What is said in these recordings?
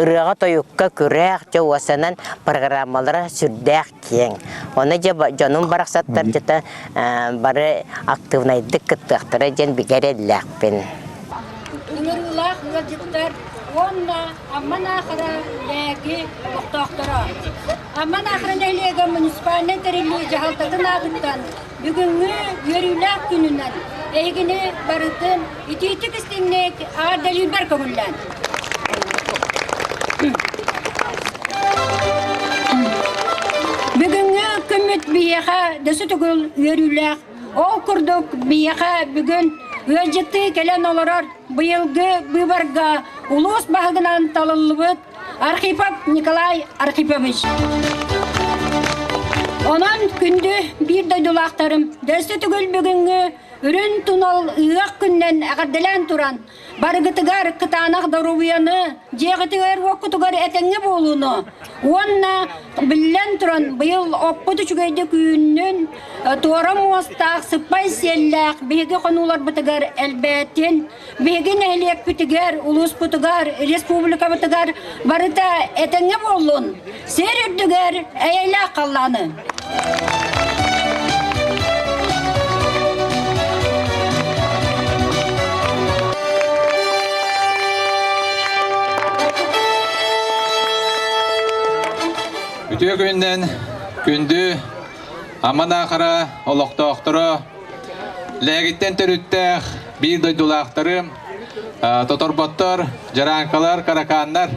ырыаҕа-тойукка күрэх, дьэ уосанан программалара сүрдээх киэҥ. Ону дьэ дьонум барахсаттарчыта бары актыыбынайдык кыттыахтара диэн бигэ эрэллээхпин. Ыҥырыылаах ыалдьыттар уонна Аман Аахара лээги олохтоохторо. Аман Аахара нэһилиэгэ муниципальнай тэриллии дьаһалтатын аатыттан Бүгүҥҥү үөрүүлээх күнүнэн эйигини барытын итиитик истиҥник аадалыырбар көҥүллээн. Бүгүҥҥү күммүт биһиэхэ дөсө түгүл үөрүүлээх. Ол курдук биһиэхэ бүгүн ыалдьыттыы кэлэн олорор быйылгы быыбарга улуус баһыгынан талыллыбыт Архипов Николай Архипович. Онон күндү биир дойдулаахтарым, дөстө түгүл бүгүҥҥү үрүн тунал ыһыах күннэн эҕэрдэлээн туран, барыгытыгар кытаанах доруобуйаны, дьиэҕитигэр-уоккутугар этэҥҥэ буолууну уонна биллэн туран, быйыл оппут үчүгэйдик үүннүн, туора муостаах, сыппай сиэллээх биһиги хонууларбытыгар элбээтин, Биһиги нэһилиэкпитигэр, улууспутугар, республикабытыгар барыта этэҥҥэ буоллун, сир үрдүгэр эйэлээх халлааны! Үтүө күнүнэн күндү Аман Аахара олохтоохторо Лээгиттэн төрүттээх биир дойдулаахтары тоторботтор, дьарааҥкалар, каракааннар.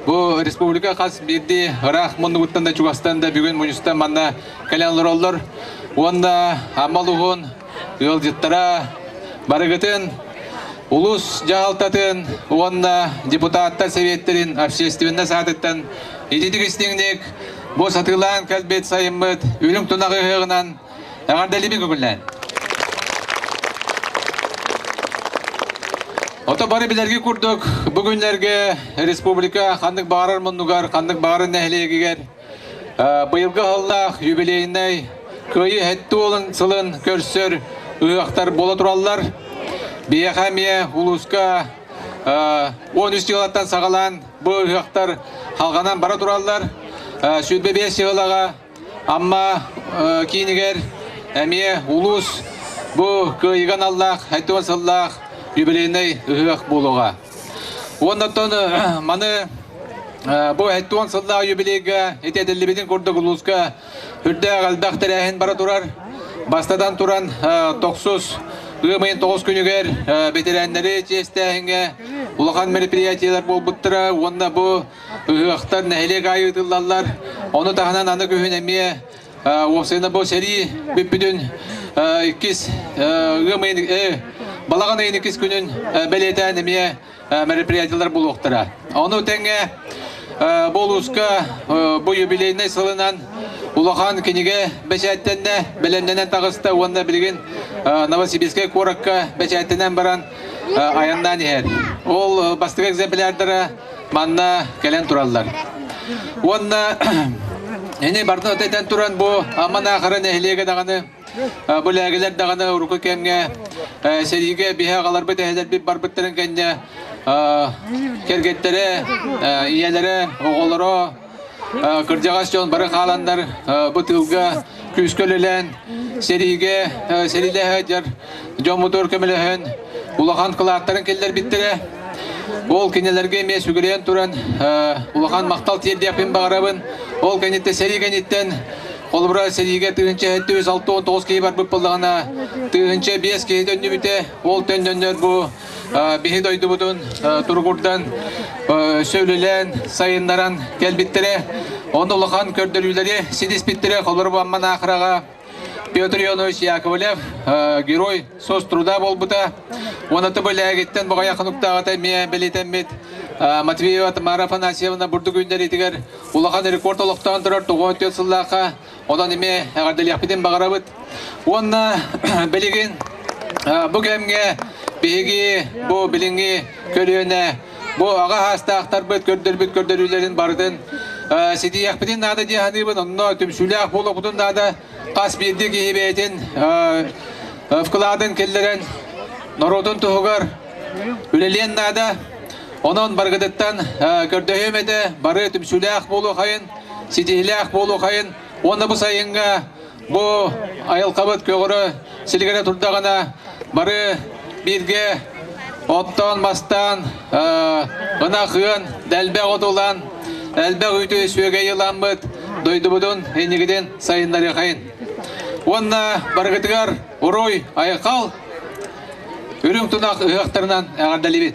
Бу республика хас биирдии ыраах муннугуттан да чугастан да бүгүн мунньустан манна кэлэн олороллор. Уонна Амал уһун ыалдьыттара барыгытын улус дьаһалтатын уонна депутаттар сэбиэттэрин общественнай саатыттан ититик-истиҥник бу сатыылаан кэлбит сайыммыт Үрүҥ тунах ыһыаҕынан Эҕэрдэлиби көбүллээн. Ото бары билэрги курдук бу күннэрге республика ханнык баарар муннугар, ханнык баарын нэһилиэгигэр быйылгы аһыллаах юбилейнай кыайы хэттуолун сылын көрсөр ыһыахтар бола тураллар. Биһиэхэ эмиэ улууска 13 сыылаттан саҕалаан бу ыһыахтар халҕанан бара тураллар. Сүүрбэ биэс сыылаҕа Амма киинигэр эмиэ улуус бу кыайыга аналлаах алтыан сыллаах юбилейнай ыһыах буолуоҕа. Уоннаттан маны бу алтыан сыллаах юбилейга ити этиллибитин курдук улууска үрдээх элбэх тэрээһин бара турар. Бастатан туран тохсус ыам ыйын тоҕус күнүгэр бэтэрээннэри чиэстээһиҥҥэ улахан мероприятиелар буолбуттара уонна бу Ыһыахтар нэһилиэк аайы ыытыллаллар. Ону таһынан аны күһүн эмиэ уопсайына бу сэрии бүппүтүн иккис ыам ыйын балаҕан ыйын иккис күнүн бэлиэтээн эмиэ мероприятиелар буолуохтара. Ону тэҥэ бу улууска бу юбилейнай сылынан улахан кинигэ бэчээттэннэ, бэлэмнэнэн таҕыста уонна билигин Новосибирскай куоракка бэчээттэнэн баран айаннаан иһэр. Ол бастакы экземплярдара манна кэлэн тураллар. Уонна ини бардын өтөйтөн туран бу Аман Аахара нэһилиэгэ даҕаны бу лээгэлэр даҕаны урукку кэмҥэ сэриигэ биһэ аҕаларбыт эһэлэрбит барбыттарын кэннэ кэргэттэрэ ийэлэрэ оҕолоро Кырдьаҕас дьон бары хааланнар бу тыылга күүскэ үлэлээн сэриигэ сэриилэһэ дьоммутугар көмөлөһөн улахан кылааттарын киллэрбиттэрэ. Ол кинилэргэ эмиэ сүгүрүйэн туран улахан махтал тиэрдиэхпин баҕарабын. Ол кэнниттэн сэрии кэнниттэн Холобура сэриигэ тыһыынча түс алты он тоҕус киһи барбыт буоллаҕына, тыһыынча биэс киһи төннүбүтэ. Ол төннөннөр бу биһи дойдубутун туругурдан өссө үлэлээн сайыннаран кэлбиттэрэ ону улахан көрдөрүүлэри ситиспиттэрэ холор бамман ахыраҕа Петр Ионович Яковлев герой сос труда буолбута уонна тыбылээгиттэн боҕайа хануктааҕыта эмиэ бэлитэммит Матвеева Тамара Афанасьевна бурдук үүннэриитигэр улахан рекорд олохтоон турар тоҕуот сыллаахха Онон ими эҕэрдэлиэхпитин баҕарабыт. Уонна билигин бу кэмҥэ биһиги бу билиҥҥи көлүөнэ бу аҕа саастаахтарбыт көрдөрбүт көрдөрүүлэрин барытын ситиһиэхпитин наада дии саныыбын. Онно түмсүүлээх буолуохпутун наада. Хас биирдии киһи бэйэтин вкладын киллэрэн норуотун туһугар үлэлиэн наада. Онон барыгытыттан көрдөһүөм этэ, бары түмсүүлээх буолуохайын. ситиһилээх буолуохайын уонна бу сайыҥҥа бу айылҕабыт көҕөрө силигирэ турдаҕына бары бииргэ оттоон мастаан ынах ыан дэлбэх от ылан элбэх үүтү сүөгэйи ыламмыт дойдубутун иннигитин сайыннарыахайын уонна барыгытыгар уруй айхал үрүҥ тунах ыһыахтарынан эҕэрдэлибит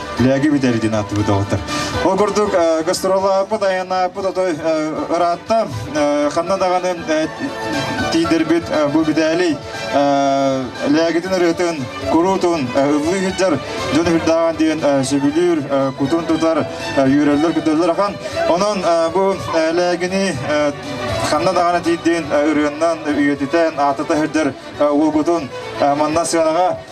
Лээги бүтэр диэн ааттыбыт доҕоттор. Ол курдук гастролааппыт, айанааппыт ото ыраатта. Ханна даҕаны тиийдэрбит бу бүтээлий Лээгитин ырыатын, куруутун ыллыы сылдьар дьон үрдээҕин диэн сөбүлүүр, кутун тутар, үүрэллэр-күтөллөр ахан. Онон бу Лээгини ханна даҕаны тиийдин ырыаннан үйэтитэн, аатата сылдьар уолгутун манна сыанаҕа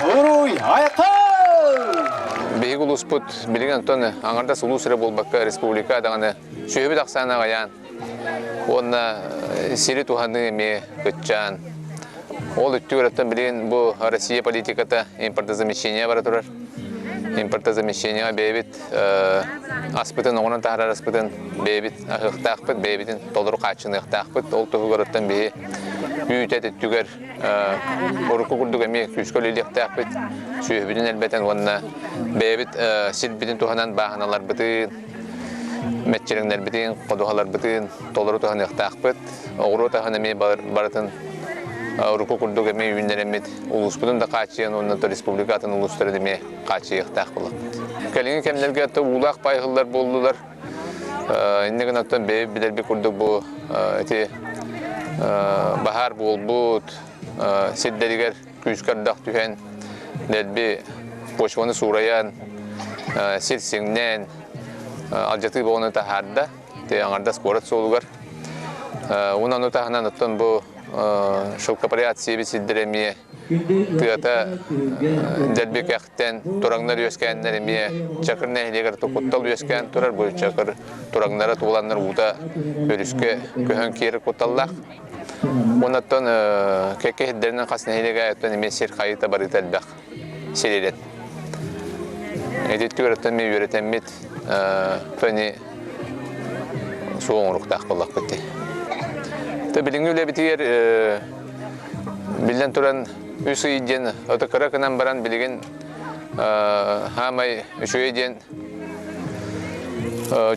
Буруй, айқал! Биһиги улууспут билигин Антон аҥардас улуус эрэ буолбакка республика даҕаны сүөһүбүт ахсаана аҕайаан уонна сири туһаныы эмиэ кыччаан ол үттү өрөттөн билигин бу Россия политиката импортозамещение бара турар импортозамещениеҕа бэйэбит аспытын оҥорон таһаарар аспытын бэйэбит аһыахтаахпыт бэйэбитин толору хааччыныахтаахпыт ол туһугар оттон биһи үүтэ өттүгэр Урукку курдук эмиэ күүскэ үлэлиэхтээхпит, сүөһүбүтүн элбэтэн уонна бэйэбит сирбитин туһанан бааһыналарбытын, мэччирэҥнэрбитин, ходуһаларбытын толору туһаныахтаахпыт. Оҕуруо таһын эмиэ барытын урукку курдук эмиэ үүннэрэммит улууспутун да хааччыйан уонна республика атын улуустарын эмиэ хааччыйыахтаах буолабыт. Кэлиҥҥи кэмнэргэ уулаах паайһыллар буоллулар. инники гынаттан бэйи билэрбит курдук бу эти баһаар буолбут сирдэригэр күүскэ ардах түһэн дэлби почваны суурайан сир сиҥнээн алдьатыы бөҕөнү таһаарда аҥардас куорат суолугар унаны таһынан оттон бу шелкопряд сиэбит сирдэрэ эмиэ тыата дьэрбикэхтэн тураҥнар үөскээннэр эмиэ Чакыр нэһилиэгэр тукуттал үөскээн турар бу Чакыр тураҥнара тууланнар уута өрүскэ көһөн киэр куталлаах Оннаттан кэкке сирдэринэн хас нэһилиэгэ өттөн эмиэ сир хайыта барыыта элбэх сир ирет. Ититтүгэртэн ми үөрэтэммит фэни суол оҥоруктаах буоллахпыт дии. То билиҥҥи үлэбитигэр биллэн туран үс ый диэн ото кыра гынан баран билигин хаамай үчүгэй диэн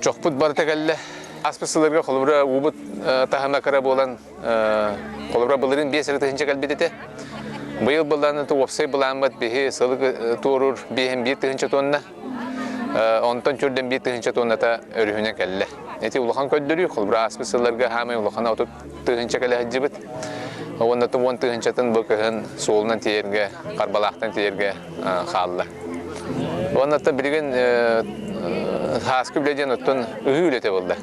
чохпут барыта кэллэ. Аспыт сылларга холобура уубут таһыма кыра буолан Холобура, былырын биэс эрэ тыһынча кэлбит этэ. Быйыл былаанната уопсай былааммыт биһи сылык туоруур биэһин биир тыһынча туонна, онтон түрдэн биир тыһынча туонната өрүһүнэ кэллэ. Эти улахан көрдөрүү, холобура, ааспыт сылларга хаамай улахана отут тыһынча кэлэ сылдьыбыт. Уонна уон тыһынчатын бу кыһын суолунан тиийэргэ, харбалаахтан тиийэргэ хаалла. Уонна та билигин сааскы үлэ диэн оттон ыһыы үлэтэ булда.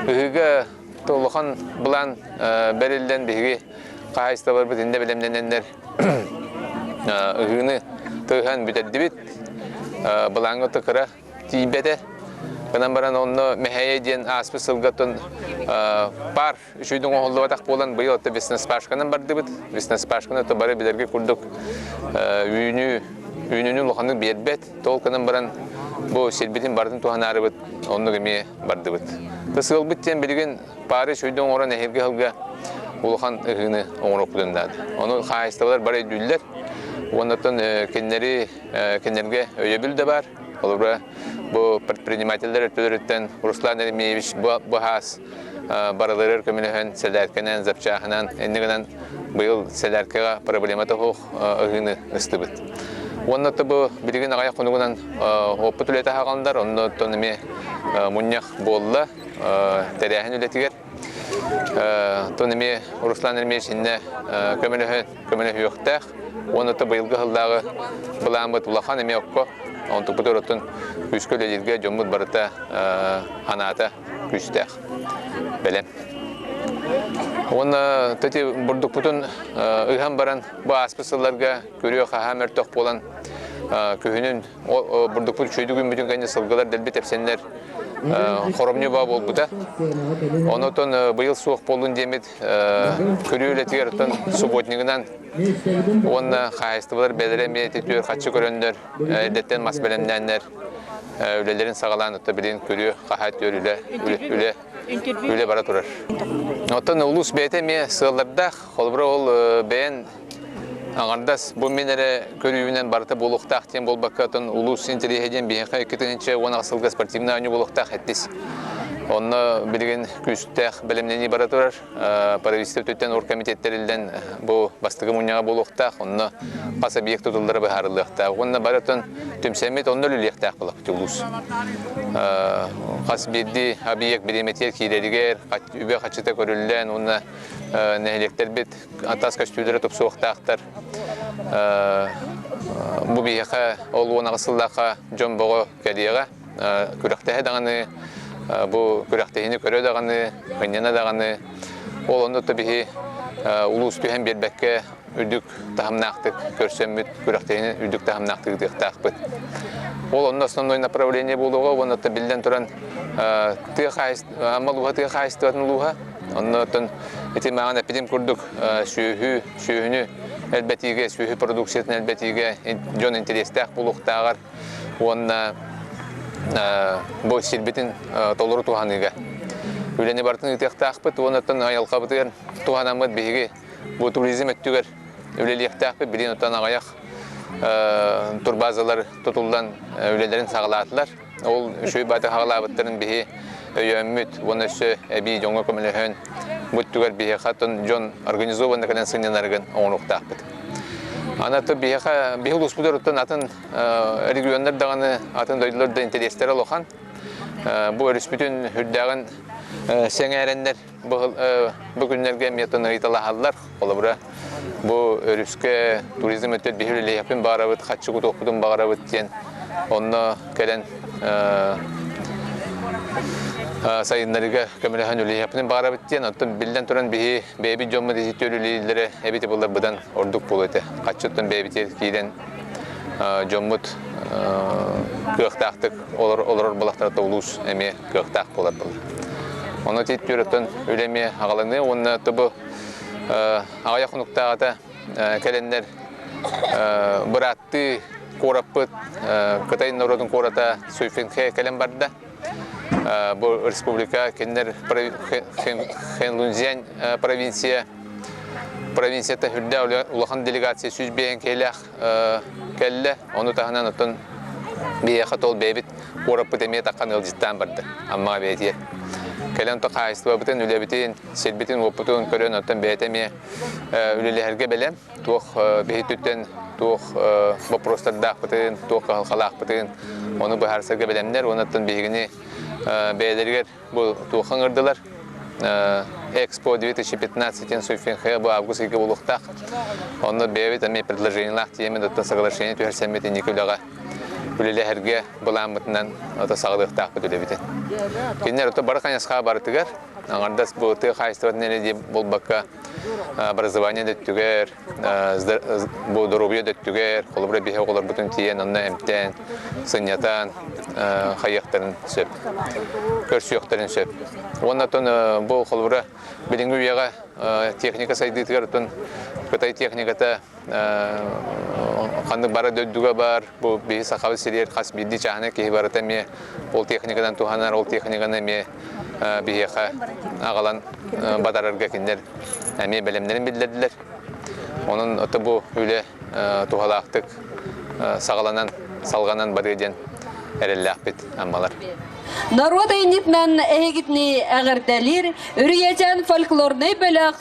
Ыһыыга Улахан былаан бэриллэн биһиги хаһаайыстыбаларбыт иннэ бэлэмнэнэннэр ыһыыны тыаһан бүтэрдибит. Былааҥҥа кыра тиийбэтэ. Гынан баран онно Мэһэйэ диэн ааспыт сылгаттан пар үшүйдүн оҥоһуллубатах буолан быйыл отто весноспашканан бардыбыт. Весноспашканы то бары билэргэ курдук үүнүү үүнүүнү улаханнык биэрбэт. Толканан баран бу сирбитин барытын туһанаарыбыт, оннук эмиэ бардыбыт. Тыс ыалбыт диэн билигин паары сүрдэ оҥорон эһирги аһылга улахан ыһыыны оҥороппутун наада. Ону хаһаайыстыбалар бары өйдүүллэр. Уоннаттан кинилэри кинилэргэ өйөбүл да баар. Холобура, бу предпринимателлэр өттөлөрүттэн Руслан Еремеевич быһаас барыларыгар көмөлөһөн сэлээркэнэн, запчааһынан, иннигинэн быйыл сэлээркэҕэ проблема тоһуох, ыһыыны ыстыбыт. Уонна бу билигин аҕай хонугунан оппут үлэтэ хааландар, оннуттан эмиэ мунньах буолла тэрээһин үлэтигэр. Тон эмиэ Руслан Эрмеевич иннэ көмөлөһүөхтээх. Уонна то быйылгы хыллааҕы былааммыт улахан эмиэ окко онтукпут oroттун күүскэ үлэлииргэ дьоммут барыта анаата күүстээх. бэлэм. Уонна тати бурдукпутун ыһан баран бу ааспыт сылларга көрүө-хаһаа мөлтөх буолан күһүнүн бурдукпут үчүөйдү күммүтүн кэннэ сылгылар дэлби тэпсэннэр хоромньу баа буолбута. Онотон быйыл суох боллун диэмит көрүү үлэтигэр оттон субботнигынан уонна хаһайыстыбалар бэлэри эмиэ түөр хаччы көрөннөр Эдэртэн мас бэлэмнээннэр үлэлэрин саҕалаан отто билин күрүө хаһаа түөр үлэ үлэ үлэ бара турар. Оттон улус бэйэтэ эмиэ сыаллардаах, холобура ол бэйэн Аңардас бу мин эрэ көрүүнэн барыта буолуохтаах диэн буолбакка, оттон улус интэриэһэ диэн биһиэхэ иккитинчи уон аҕыс сылга спортивнай оонньуу буолуохтаах эттис. Онно билигин күүстээх бэлэмнэнии бара турар. правительствотыттан ор комитет тэриллэн бу бастакы мунньаҕа буолуохтаах онно хас объект тутуллара быһаарыллыахтаах уонна барытын түмсэммит онно үлэлиэхтээх былаппыт улуус хас биирдии объект бириэмэтигэр киирэригэр үбэ хаччыта көрүллэн уонна нэһилиэктэрбит атас көстүүлэрэ тупсуохтаахтар бу биһиэхэ ол уон аҕыс сыллаахха дьон бөҕө кэлиэҕэ күрэхтэһэ даҕаны, бу күрэхтэһиини көрө даҕаны, мынньана даҕаны, ол онно да биһи улуус түһэн биэрбэккэ үрдүк таһымнаахтык көрсөммүт, күрэхтэһиини үрдүк таһымнаахтык ыытыахтаахпыт. Ол онно основное направление буолуоҕа уонна та биллэн туран тыа хаһайыстыба, Амма улууһа тыа хаһайыстыбатын улууһа, оннооттон ити мааны эппитим курдук сүөһү, сүөһүнү элбэтиигэ, сүөһү продукциятын элбэтиигэ дьон интэриэстээх буолуохтааҕар уонна бу сирбитин толору туһаныыга үлэни барытын ыытыахтаахпыт уонна айылҕабытыгар туһанаммыт биһиги бу туризм өттүгэр үлэлиэхтээхпит билин оттон аҕайах турбазалар тутуллан үлэлэрин саҕалаатылар ол үчүгэй бааты саҕалаабыттарын биһи өйөөммүт уонна өссө эбии дьоҥҥо көмөлөһөн бу өттүгэр биһи хатын дьон организованно кэлэн сынньанарыгын оҥоруохтаахпыт Аны аты биһиэхэ биһи улууспут өрүттэн атын регионнар даҕаны атын дойдулар да интэриэстэрэ улахан. Бу өрүспүтүн үрдээҕин сэҥээрэннэр бу күннэргэ эмиэтин ыйыталаһаллар. Холобура, бу өрүскэ туризм өттө биһир үлэһэппин баарабыт, хаччыгы туохпутун баарабыт диэн онно кэлэн сайыннарыыга көмөлөһөн үлэлэһиэхпитин баҕарабыт диэн оттон биллэн туран биһи бэйэбит дьоммут ити үлэлииллэрэ эбит былыр быдан ордук буолуо этэ хаччыттан бэйэбитигэр киирэн дьоммут кыахтаахтык олорор балахтарата улуус эмиэ кыахтаах буолар былыр ону титтүүрөттөн үлэ эмиэ аҕаланыа уонна тобу аҕайах хонуктааҕыта кэлэннэр бырааттыы куораппыт Кытай норуотун куората Суйфинхэ кэлэн барда. Бу республика кинилэр Хэнлунзянь провинция провинцията үрдэ улахан делегация сүүс биээн киэлэх кэллэ. Ону таһынан оттон биһиэхэ тол бэйбит куораппыт эмиэ таххан ыалдьыттаан барда. Амма бэйэтиэ. Кэлэн то хаайыстыбабытын, үлэбитин, сирбитин-уоппутун көрөн оттон бэйэтэ эмиэ үлэлэһэргэ бэлэм туох биһиттиттэн туох боппуруостардаахпытын туох кыһалҕалаахпытын ону быһаарсарга бэлэмнэр уонна биһигини бэйэлэригэр бу туох ыҥырдылар Экспо 2015 диэн Суйфенхея бу август ыйга буолуохтаах. Онно бэйэбит эмиэ предложениелаах тиэмэдэ соглашение түһэрсэммит инники үлэҕэ үлэлэһэргэ былааммытынан ото саҕалыахтаахпыт үлэбитин. Кинилэр ото бары хайысха барытыгар Аҥардас бу тыа хаһайыстыбатын нэриэ буолбакка образование да өттүгэр, бу доруобуйа да өттүгэр, холобура биһи оҕолорбутун тиийэн онно эмтээн, сынньатан хайыахтарын сөп, көрсүөхтэрин сөп. Уонна оттон бу холобура билиҥҥи үйэҕэ техника сайдыытыгар оттон Кытай техниката Ханнык бара дойдуга бар, бу биһи Сахабыт сириэр хас биирдии чааһына киһи барыта эмиэ ол техниканан туһанар, ол техниканы эмиэ биһиэхэ аҕалан батарарга кинилэр эмиэ бэлэмнэрин биллэрдилэр. Онон бу үлэ туһалаахтык саҕаланан, салҕанан барыа диэн эрэллээхпит аммалар. Народ айнитнан эһигитни әгерделир, үрієтен фольклорный бөлөх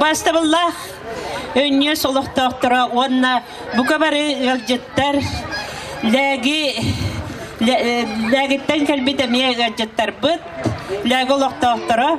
Бастабылла өнньүөс олохтоохторо уонна бука бары ыалдьыттар лээги лээгиттэн кэлбит эмиэ ыалдьыттарбыт лээги олохтоохторо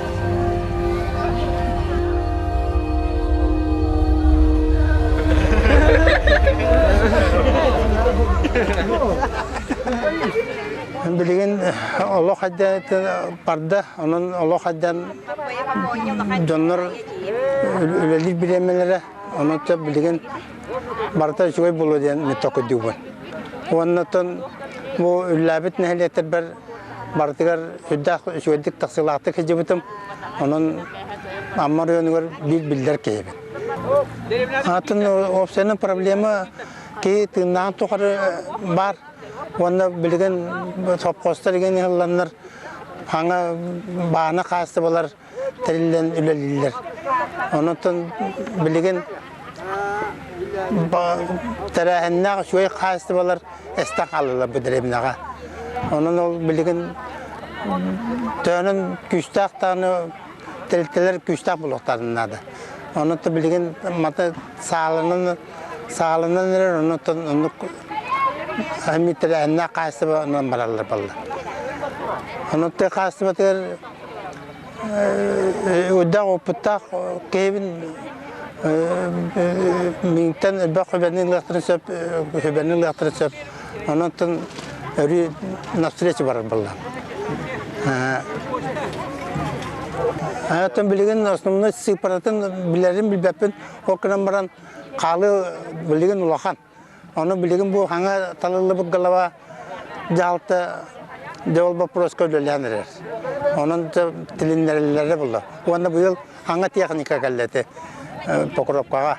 Билигин олох хадьаатын барда, онон олох хадьан дьоннор үлэлиир бириэмэлэрэ, онон билигин барыта үчүгэй буолуо диэн митток үрдүгүн. Уонна бу үллээбит нэһилиэктэрбэр Барытыгар сүрдээх үчүгэйдик тахсыылаахтык сылдьыбытым. Онон Амма оройуонугар биир биллэр киһибин. Атын уопсайынан проблема киһи тыыннааҕын тухары баар. Уонна билигин сопхуостар игэн иһилланнар, аңа баана хаастыбалар, тэриллэн үлэлииллэр. Онон билигин тэрээһиннээх үчүгэй хаачыстыбалар эстэн хаалалар бу дэриэбинэҕэ. Онон ол билигин төөнөн күүстээх даҕаны тэрилтэлэр күүстээх булуохтарын наада. Онон билигин мата сааланан сааланан эрэр оннуттан оннук әммит тэрээһиннээх хаачыстыба бараллар балла. Онон хаачыстыбатыгар Уйдаах опыттаах киһибин миҥтэн элбэх хүбэни ылыахтарын сөп, хүбэни ылыахтарын сөп. Онон өрүү навстреча барар буоллаан. Атын билигин основной сыыпаратын билэрин билбэппин, ол гынан баран хаалыы билигин улахан. Ону билигин бу хаҥа талыллыбыт голова дьаһалта дьэ ол боппуруоска үлэлээн эрэр. Онон тилиннэриллэрэ булла. Уонна быйыл хаҥа техника кэллэти покровкаҕа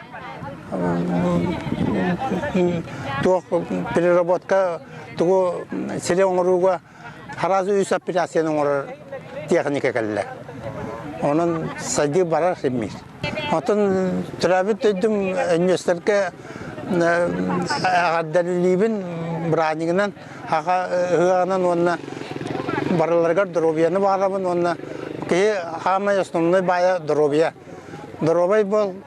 туох переработка тугу сири оҥорууга Арази үс аппеляцияны оҥорор тиэхиньикэ кэллэ. Онон сайдыы барар иммиир. Оттон төрөөбүт дойдум инвесторга эҕэрдэлиибин быраанньыгынан, аха ыһыаҕынан уонна барыларыгар доруобуйаны баҕарабын уонна киһи хаамай основной баайа доруобуйа. Доруобай буол,